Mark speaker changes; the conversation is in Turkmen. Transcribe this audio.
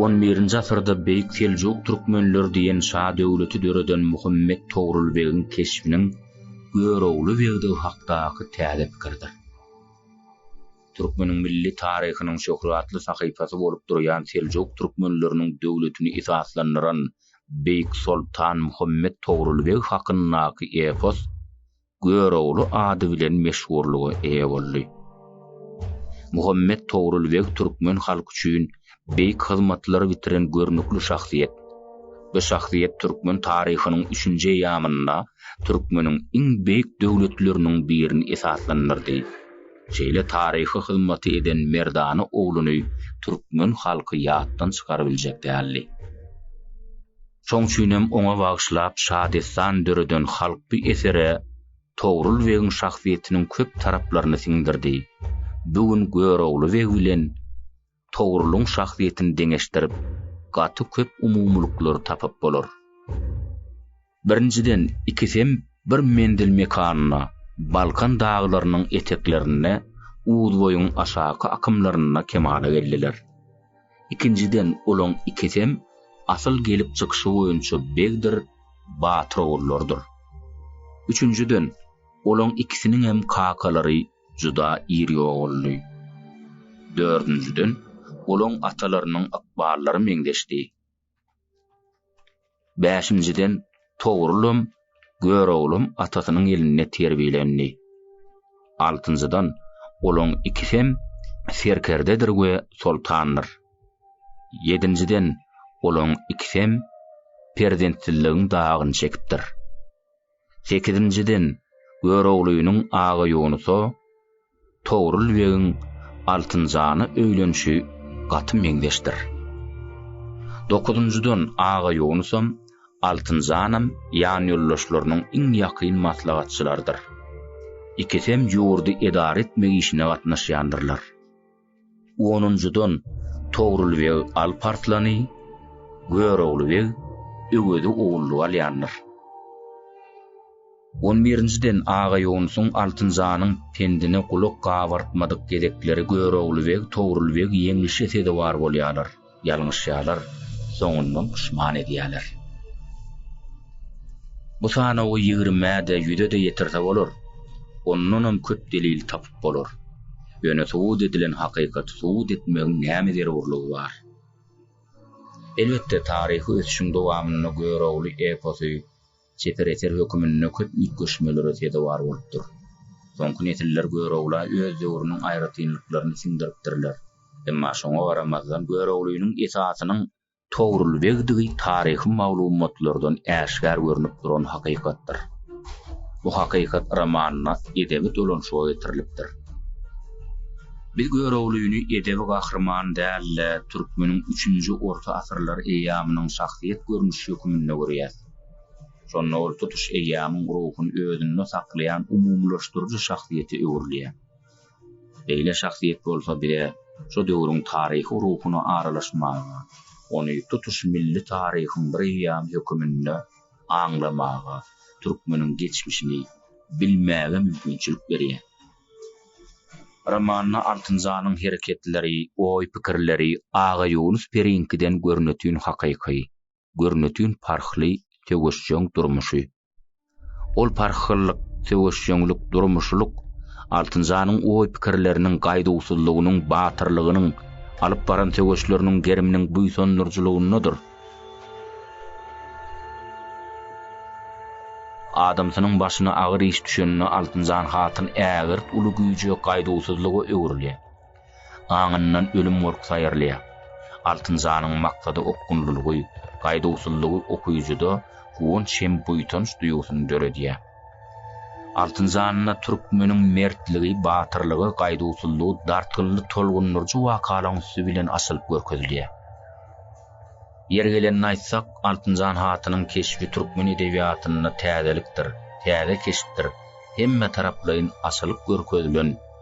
Speaker 1: On birinji asyrda Beýik Seljuk Türkmenleri diýen şa döwleti döreden Muhammet Togrul begiň keşbiniň Görogly begdigi hakdaky täze pikirdir. Türkmeniň milli taryhynyň şöhratly sahypasy bolup durýan Seljuk Türkmenleriniň döwletini esaslandyran Beýik Soltan Muhammet Togrul beg hakyndaky epos Görogly ady bilen meşhurlyga eýe boldy. Muhammet Togrul beg türkmen halky üçin beýik hyzmatlary bitiren görnükli şahsyýet. Bu şahsyýet türkmen taryhynyň üçünji eýýamynda türkmeniň iň beýik döwletleriniň birini esaslandyrdy. Şeýle taryhy hyzmaty eden merdana ogluny türkmen halky ýatdan çykarybiljek däldi. Şoň üçinem oňa bagyşlap şadessan döreden halk bu esere Togrul begiň şahsyýetiniň köp taraplaryny siňdirdi. Bu gün Görogly beg bilen Togrulyň şahsyýetini deňeşdirip, gaty köp umumylyklary tapyp bolar. Birinjiden, ikisem bir menzil mekanynda, Balkan daglarynyň eteklerinde, Uzboýuň aşaky akymlarynda kemala geldiler. Ikinjiden olaň ikisem asyl gelip çykyşy boýunça begdir, batyr ogullarydyr. Üçünjiden olaň ikisiniňem kakalary juda iri oguldy. Dördünjiden olaň atalarynyň ykballary meňzeşdi. Bäşinjiden, Togrulym, Göroglam atasynyň elinde terbiýelendi. Altynjydan, olaň ikisem serkerdedir we soltandyr. Ýedinjiden, olaň ikisem perzentsizligiň dagyny çekipdir. Sekizinjiden, Göroglynyň aga ýonusa Togrul begiň Altynjana öýlenişi gaty meňzeşdir. Dokuzynjydan, aga ýonusam, Altynjanam ýanýoldaşlarynyň iň ýakyn maslahatçylarydyr. Ikisem ýurdy edara etmek işine gatnaşýandyrlar. Onunjydan Togrul beg Alp Arslany, Görogly beg Öwezi ogullyk alýandyr. On birinjiden Aga Ýonusyň Altynjanyň pendine gulak gabartmadyk gezekleri Görogly beg, Togrul beg ýeňlişe sezewar bolýarlar. Ýalňyşýarlar, soňundan puşman edýärler. Bu sanawy ýigrimä-de, ýüze-de ýetirse bolar, ondanam köp delil tapyp bolar. Ýöne subut edilen hakykaty subut etmegiň näme zerurlygy bar? Elbetde, taryhy ösüşiň dowamynda Görogly eposy Çeper eser höküminde köp üýtgeşmelere sezewar bolupdyr. Soňky nesiller Görogla öz döwrüniň aýratynlyklaryny siňdiripdirler. Emma şoňa garamazdan Göroglynyň esasynyň Togrulbegdigi taryhy maglumatlardan äşgär görnüp duran hakykatdyr. Bu hakykat romanynda edebi dolanşyga getirilipdir. Biz Göroglyny edebi gahryman däl-de, türkmeniň üçünji orta asyrlar eýýamynyň şahsyýet görnüşi höküminde görýäs. Şonda ol tutuş eýýamyň ruhuny özünde saklaýan umumylaşdyryjy şahsyýete öwrülýär. Beýle şahsyýet bolsa bize şu döwrüň taryhy ruhuna aralaşmaga, ony tutuş milli taryhyň bir eýýamy höküminde aňlamaga, türkmeniň geçmişini bilmäge mümkinçilik berýär. Romanda Altynjanyň hereketleri, oý-pikirleri Agaýunus piriňkiden görnetin hakyky. görnetin parhly söweşjeň durmuşy. Ol parhyllyk, söweşjeňlik, durmuşlyk Altynjanyň oý-pikirleriniň gaýduwsyzlygynyň, batyrlygynyň, alyp baran söweşleriniň geriminiň buýsandyryjylygyndadyr. Adamsynyň başyna agyr iş düşende Altynjan hatyn ägirt uly güýje, gaýduwsyzlyga öwrülýär. Aňyndan ölüm gorkusy aýyrylýar. Altynjanyň maksady okgunlylygy, gaýduwsyzlygy okyjyda guwanç hem buýsanç duýgusyny döredýär. Altynjanda türkmeniň mertligi, batyrlygy, gaýduwsyzlygy dartgynly tolgundyryjy wakalaryň üsti bilen açylyp görkezilýär. Ýeri gelende aýtsak, Altynjan hatynyň keşbi türkmen edebiýatynda täzelikdir, täze keşpdir, hemmetaraplaýyn açylyp görkezilen,